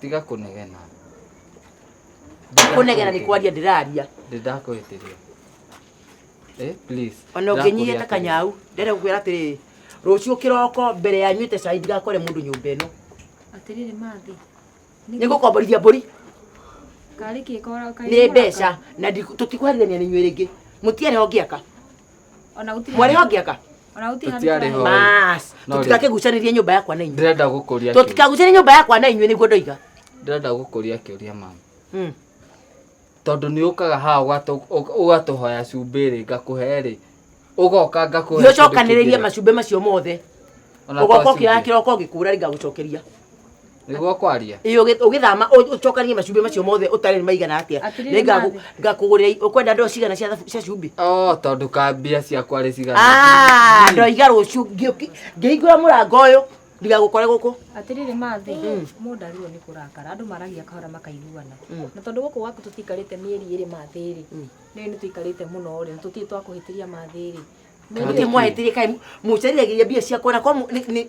tiga kũnegena kũnegena nĩ kwaria ndĩraria ndĩndakũhĩtĩria eh please ona ũngĩnyihia ta kanyau ndere gũkwĩra atĩrĩrĩ rũciũ kĩroko mbere ya nyuĩte cai ndigakore mũndũ nyũmba ĩno atĩrĩrĩ mathi nĩ gũkomborithia mbũri karĩ kĩ kora karĩ nĩ mwaka? mbeca na ndiku- tũtikwarithania nĩ inyuĩ rĩngĩ mũtiarĩ ho ngĩaka ona gũtirĩ mwarĩ ho ngĩaka Wanahutia hadi Tũtiarĩ kwa- ho. bas No, tũtikake gucanĩria nyũmba yakwa na inyuĩ ndĩrenda gũkũria kĩũria- tũtikagucanĩria nyũmba yakwa na inyuĩ nĩguo ndoiga ndĩrenda gũkũria kĩũria mama Mm. tondũ nĩ ũkaga haha ũgatũ- ũ- ũgatũhoya cumbĩ rĩ ngakũhe rĩ ũgoka ngakũhe nĩ ũcokanĩrĩrie macumbĩ macio mothe ũgoka ũkĩoya kĩroko ũgĩkũra rĩ ngagũcokeria nĩguo kwaria ĩ ũgĩ- ũgĩthama ũ- ũcokanie macumbĩ macio mothe ũtarĩ nĩ maigana atĩa Atirĩ Nĩ ngaku- nathi. ngakũgũrĩra i- ũkwenda ndoo cigana cia thabu- cia cumbĩ o tondũ ka mbia ciakwa rĩ cigana Ah, ndoiga rũciũ ngĩũki- ngĩhingũra mũrango ũyũ ndigagũkore gũkũ atiriri mathi mundu arirwo ni kurakara andu maragia kahora makaiguana na tondu guku gwaku tutikarite mieri iri mathi ri ni ni tuikarite muno ri tutii twakuhitiria mathi ri gũtirĩ mwahĩtĩria kaĩ mũcerithagĩria mbia ciakwa na kwa mũ- nĩ- nĩ-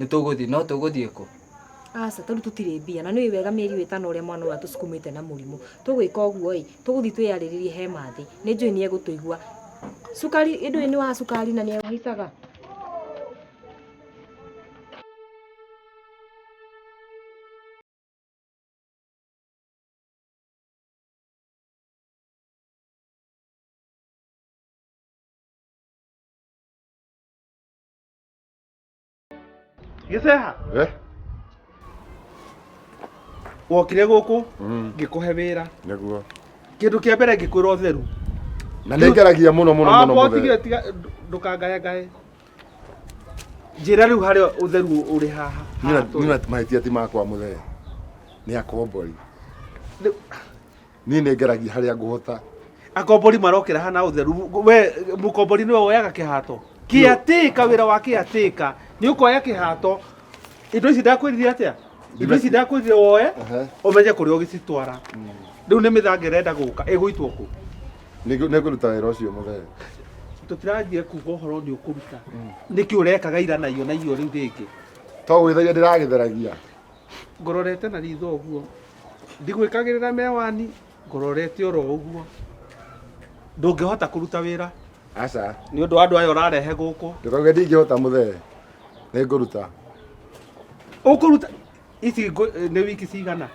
nĩ tũgũthiĩ no tũgũthiĩ kũ aca tondũ tũtirĩ mbia na nĩ wega mĩeri ĩtano ũrĩa mwana ũyũ atũsukumĩte na mũrimũ tũgwĩka ũguo ĩ tũgũthiĩ twĩyarĩrĩrie he mathĩ nĩ njũĩ nĩ egũtũigua cukari ĩndũ nĩ wa cukari na nĩ ehaicaga gĩceha Eh, wokire gũkũ mm, ngĩkũhe wĩra nĩguo kĩndũ kĩa mbere ngĩkwĩra ũtheru na nĩ ngeragia mũno mũno mũno mũthenya. tigire tiga ndũ- ndũkangayangaye njĩra rĩu harĩa ũtheru ũrĩ haha Nina- nina mahĩtia ti makwa mũthee nĩ akombori Rĩu- niĩ nĩ ngeragia harĩa ngũhota akombori marokĩra hana ũtheru we mũkombori nĩwe woyaga kĩhato kĩatĩka wĩra wa kĩatĩka nĩ ũkoya kĩhato indo ici ndakwĩrire atĩa indo ici ndakwĩrire woe Ehe. ũmenye kũrĩa ũgĩcitwara rĩu nĩ mĩthanga ĩrenda gũka ĩgũitwo kũ Nĩ- nĩ ngũruta wĩra ũcio mũthee tũtiranjia kuga ũhoro nĩ ũkũruta nĩkĩ ũrekaga ira na iyo na iyo rĩu rĩngĩ to gwĩtheria ndĩragĩtheragia ngororete na ritho ũguo ndigwĩkagĩrĩra mewani ngororete oro ũguo ndũngĩhota kũruta wĩra aca nĩ ũndũ wa andũ aya ũrarehe gũkũ ndũkauge ndingĩhota mũthee nĩ ngũruta ũkũruta ici ngũ- nĩ wiki cigana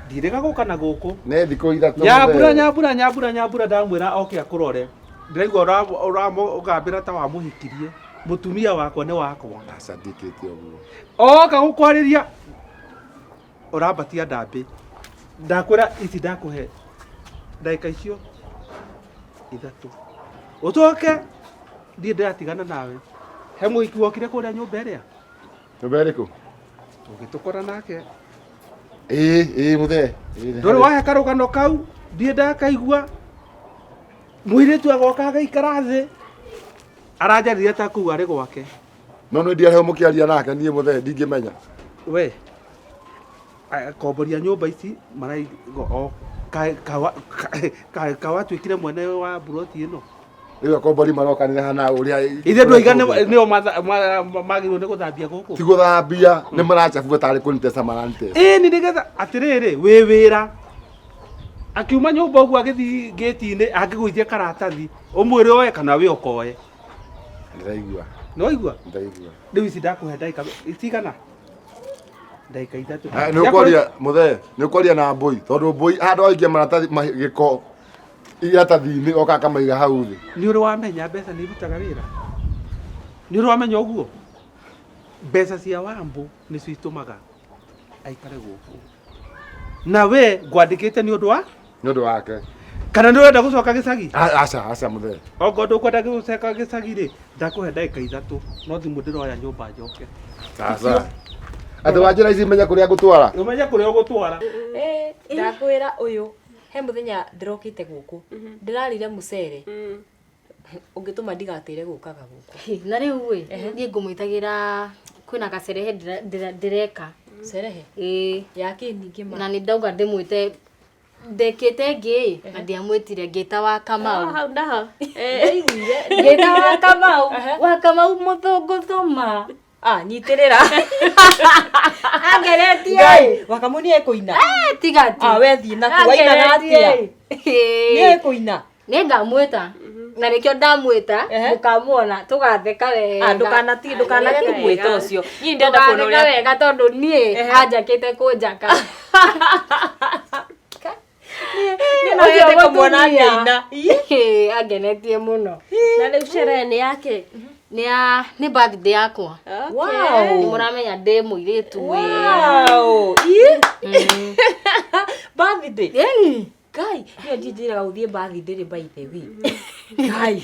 ndirĩga gũka na gũkũ nĩ thikũ ithatũ nyambura mũthee. nyambura nyambura nyambura ndamwĩra oke akũrore ndĩraigua ũramũgambĩra ta wamũhikirie mũtumia wakwa nĩ wakwa aca ndikĩtie ũguo oka gukwarĩria ũrambatia ndambĩ ndakwĩra ici ndakũhe ndagĩka icio ithatũ ũcoke ndiĩ ndĩratigana nawe he mũhiki wokire kũrĩa nyũmba ĩrĩa nyũmba ĩrĩkũ ũgĩtũkora nake ĩĩ ĩĩ mũthee ndũrĩ wahe karũgano kau ndiĩ ndakaigua mũirĩtu agoka agaikara thĩ aranjarire ta kũu arĩ gwake no nä ndiarä må kä aria nake niä må thee ndingä menya we komboria nyumba ici maraigo o ka- kawa- ka- ka- kawatuĩkire mwene wa buroti ĩno rä u akombori maroka nä hana å rä a ithe andå aiga nĩo matha- ma- ma- magĩrĩirwo nĩ gũthambia gũkũ tigå thambia nä maracabua tarä kå nitesa maranitesa ĩni nĩgetha atĩrĩrĩ wĩ wĩra akiuma nyũmba ũguo agĩthiĩ ngĩti-inĩ angĩgũithia karatathi ũmwĩre oe kana wĩ okoe ndĩraigua nĩwaigua ndĩraigua rĩu ici ndakũhe ndagĩka cigana ndagĩka ithatũ Eh, nĩ ũkwaria mũthee nĩ ũkwaria na mbũi tondũ mbũi handũ waikia maratathi ma- gĩko iratathi-inĩ oka akamaiga hau thĩ nĩ ũrĩ wamenya mbeca nĩ irutaga wĩra nĩ ũrĩ wamenya ũguo mbeca cia wambũ nĩcio itũmaga aikare gũkũ na we ngwandĩkĩte nĩ ũndũ wa nĩ ũndũ wake kana nĩ ũrenda gũcoka gĩcagi A- aca aca mũthee ongo ndũkwenda gũcoka gĩcagi rĩ ndakũhe ndagĩka ithatũ no thimũ ndĩroya nyũmba njoke sasa andũ wa njĩra ici menya kũrĩa ngũtwara ũmenye kũrĩa ũgũtwara Eh, ndakwĩra ũyũ he mũthenya ndĩrokĩte gũkũ ndĩrarire mũcere ũngĩtũma ndigatĩre gũkaga gũkũ Hĩ, na rĩu ĩ niĩ ngũmwĩtagĩra kwĩna gacerehe ndĩra- ndĩra- ndĩreka cerehe ĩĩ ya kĩ ningĩ ma na nĩ ndauga ndĩmwĩte ndekĩte ngĩ na ndiamwĩtire ngĩta wa kamau hau naho ndaiguire ngĩta wa kamau wa kamau mũthũngũ thoma Ah, nyitĩrĩra angeretie ngai wakamũ nĩ ekũina Eh, tiga tu Ah, we thiĩ naku wainaga atĩa nĩ ekũina nä ngamwä ta na nä kä o ndamwä ta Ehe. må kamuona tå gatheka wega Ah, ndũkanati- ndũkanage Wega. kũmwĩta ũcio niĩ ndenda kuona Tũgatheka ũrĩa wega tondå niä Ehe. anjakä te kå njaka Nĩ wendete kũmuona akĩina. Ĩĩ, angenetie mũno na rĩu sherehe nĩ yake nĩ ya nĩ birthday yakwa nĩ mũramenya ndĩ mũirĩtu wĩ Wow. Ih. Birthday. Ĩni. Ngai, niĩ ndinjĩraga gũthiĩ birthday rĩ by the way. Ngai.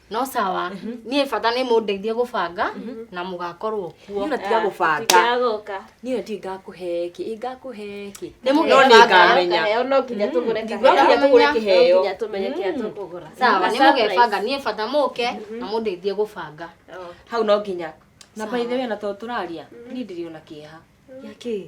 no sawa niä bata nä må ndeithie gå banga na må gakorwo kuo Nina tiga gũbanga. Tikagoka. Nina ti ngakå heki. Ĩ ngakå heki. nä må No nĩ gä ngamenya. Kaheo no nginya tũgũre Ndigwa kaheo. nginya tũgũre No kĩheo. nginya tũmenye kĩrĩa tũkũgũra. sawa nä må gebanga niä bata må ke na må ndeithie gå banga Hau no nginya. Na by the way na to tũraria. Niĩ ndirĩ ona kĩeha. yakä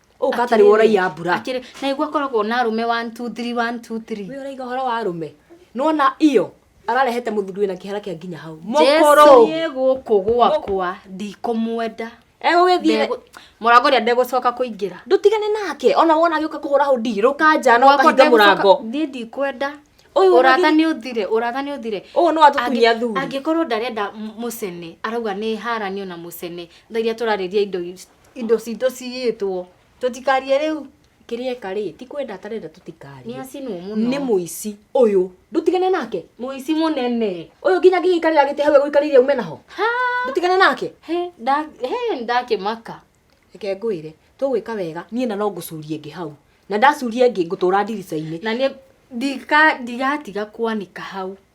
ũka tarĩ ũraiya mbura akĩrĩ na igua koragwo na arũme 1 2 3 1 2 3 wĩ ũraiga ũhoro wa arũme nona iyo ararehete mũthuri wĩna kĩhara kĩa nginya hau mũkũrũ niĩ gũkũ gwakwa ndikũmwenda egũgĩthiĩ mũrango rĩa ndegũcoka kũingĩra ndũtigane nake ona wona agĩũka kũhũra hũ ndirũ kanja no kahinga mũrango niĩ ndikwenda Ũyũ ũrata ũragĩ- nĩ ũthire ũrata nĩ ũthire ũyũ no atũkunyia thuri angĩkorwo ndarenda m- mũcene arauga nĩ haranio na mũcene tharia tũrarĩria indo i- indo citũ ciyĩtwo tũtikarie rĩu kĩrĩeka rĩ ti kwenda atarenda tũtikarie nĩ acinwo mũno nĩ mũici ũyũ ndũtigane nake mũici mũnene ũyũ nginya ngĩgĩikarĩra gĩtĩ hau egũikarĩire ume naho ndũtigane nake he ndakĩmaka reke ngwĩre tũgwĩka wega niĩ na no ngũcurie ngĩ hau na ndacuria ngĩ ngũtũra ndirica-inĩ na nĩ ndigatiga kwanĩka hau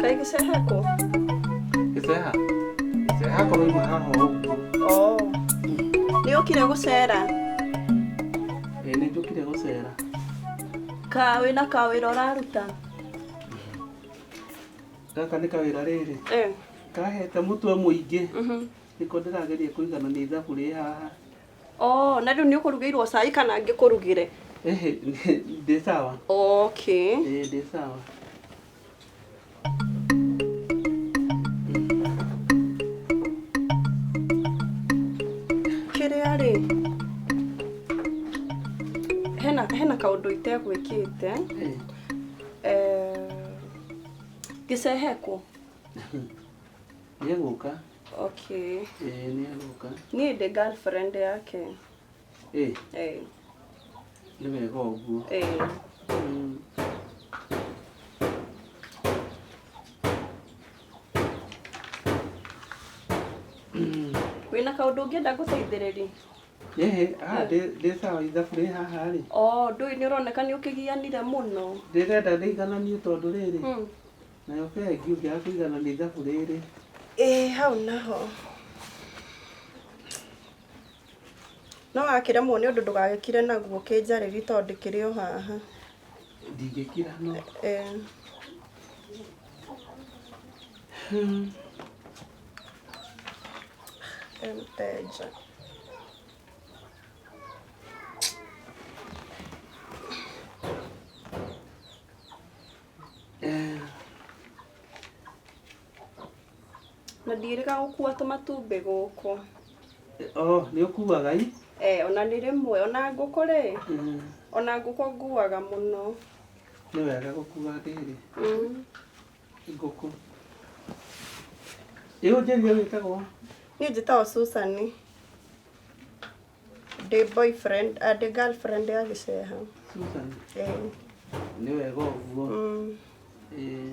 Kaĩ gĩceha kũ? Gĩceha? Gĩceha korwo ima haha ũguo. Oh. Nĩ ũkire gũcera? Ĩĩ nĩ njũkire gũcera. Ka wĩna ka wĩra ũraruta? Gaka nĩ kawĩra rĩrĩ. Eh. Kahete mũtwe mũingĩ. Mhm. Nĩko ndĩrageria kũigana nĩ ithabu rĩ haha. Oh, na rĩu nĩ ũkũrugĩirwo cai kana ngĩkũrugĩre? Ehe, ndĩ sawa. Okay. Ĩĩ ndĩ sawa. kĩrĩa rĩ hena hena kaũndũ itegwĩkĩte eh, gĩcehekwo nĩegũka okay ĩĩ nĩegũka niĩ ndĩ girlfriend yake Eh, Eh, nĩ wega ũguo eh. Mm. wĩna kaũndũ ũngĩenda ngũteithĩrĩrie Ehe, ah, ndĩ- ndĩ sawa ithabu rĩ haha rĩ o ndũĩ nĩ ũroneka nĩ ũkĩgianire mũno ndĩrenda ndĩigananie tondũ rĩrĩ Mm. nayo bengi ũngĩaga kũiganania ithabu rĩrĩ ĩĩ hau naho No akĩremwo nĩ ũndũ ndũgagĩkire naguo kĩnjarĩri tondũ ndĩkĩrĩ o haha. Ndingĩkira no. Eh. Eh, Mteja. Eh. Na ndirĩga gũkua tũmatumbĩ gũkũ. Oh, nĩ ũkuaga i? Eh, ona nĩ rĩmwe, ona ngũkũ rĩ, Mm, ona ngũkũ nguaga mũno. Nĩ wega gũkua ndĩrĩ Mm. ngũkũ. Ĩ ũnjĩrie wĩtagwo? Niĩ njĩtagwo Susan. Ndĩ boyfriend, ah, ndĩ girlfriend ya gĩceha. Susan. Eh, Nĩ wega ũguo. mm. Ĩ,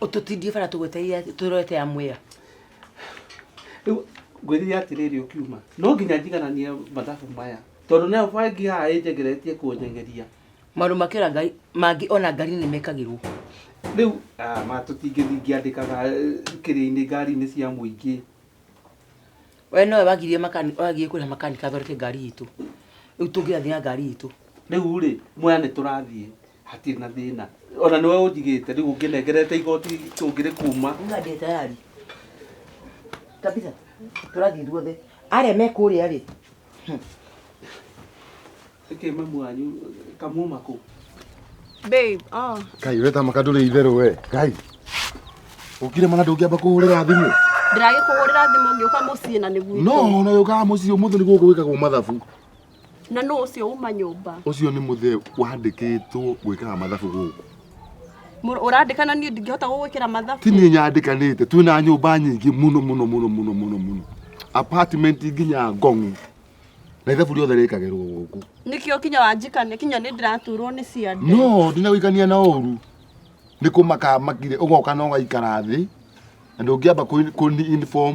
ũtũtindie bara tũgwetereire tũrorete ya mwĩra rĩu ngwĩrire atĩrĩrĩ ũkiuma no nginya njigananie mathabu maya tondũ nayo bangi haha ĩnjegeretie kũnyengeria maũndũ makĩra ngai mangĩ ona ngari nĩ mekagĩrwo rĩu ah, ma tũtingĩthingĩandĩkaga kĩrĩa-inĩ ngari-inĩ cia mũingĩ we nowe wagirie makani- wagirie kũrĩha makanika athondeke ngari itũ rĩu tũngĩrathiĩ na ngari itũ rĩu rĩ mwena nĩ tũrathiĩ hatirĩ na thĩna ona nĩwe ũnjigĩte rĩu ũngĩnengerete igoti tũngĩrĩkuma Nga ndĩ tayari. Kabisa. Tũrathiĩ ithuothe. Arĩa me kũrĩa rĩ. ĩkĩ mamu wanyu kamuma kũ Babe, oh. Ngai we tamaka ndũrĩ itherũ we. Ngai. Ũkire mana ndũngĩamba kũhũrĩra thimũ. Ndĩragĩkũhũrĩra thimũ ngĩũka mũciĩ na nĩguo. No, na ũkaga mũciĩ ũmũthĩ nĩ gũkũ gwĩkagwo mathabu. Na nũ ũcio uma nyũmba? Ũcio nĩ mũthee wandĩkĩtwo gwĩkaga mathabu gũkũ. Mũrũ- Ũrandĩka na niĩ ndingĩhota gũgwĩkĩra mathabu. Ti niĩ nyandĩkanĩte, twĩna nyũmba nyingĩ mũno mũno mũno mũno mũno mũno. Apartment nginya ngong'u. Na ithabu rĩothe rĩkagĩrwo gũkũ. Nĩkĩo kinya wanjikania kinya nĩ ndĩraturwo nĩ ciande. No, ndinagũikania na ũru. Nĩ kũmaka makire ũgoka na ũgaikara thĩ. Na ndũngĩamba kũni inform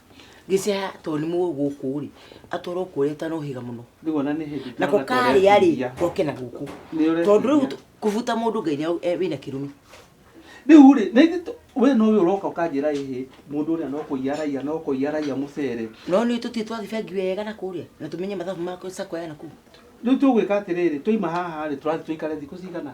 gĩcaya tondũ nĩ mũĩ gũkũ rĩ atwarwo kũrĩa ũtanohĩga mũno Rĩu ona nĩ hĩndĩ nako ndĩrona ta karĩa rĩ ũretiria. goke na gũkũ Nĩ ũretiria. tondũ rĩu t- kũbuta mũndũ ngai nĩ e- wĩna kĩrumi rĩu rĩ na ithuĩ tũ- we nowe ũroka ũkanjĩra ĩhĩ mũndũ ũrĩa no kũiya araiya no kũiya araiya mũcere no nĩ tũthiĩ twathiĩ bengi wega na kũrĩa na tũmenye mathabu ma sako ya nakuu rĩu tũgwĩka atĩrĩrĩ twaima haha rĩ tũrathiĩ tũikare thikũ cigana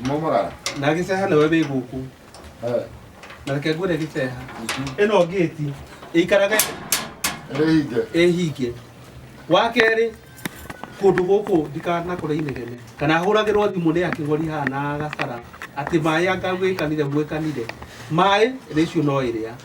Momorara. na gĩceha nĩwe wĩ gũkũ Eh. na reke ngwĩre gĩceha ĩno ngĩti ĩikaraga Ĩhinge. ĩhinge wa kerĩ kũndũ gũkũ ndikanakũre inegene kana hũragĩrwo thimũ nĩ akĩgori haha na gacara atĩ maĩ angagwĩkanire gwĩkanire maĩ rĩciũ no ĩrĩa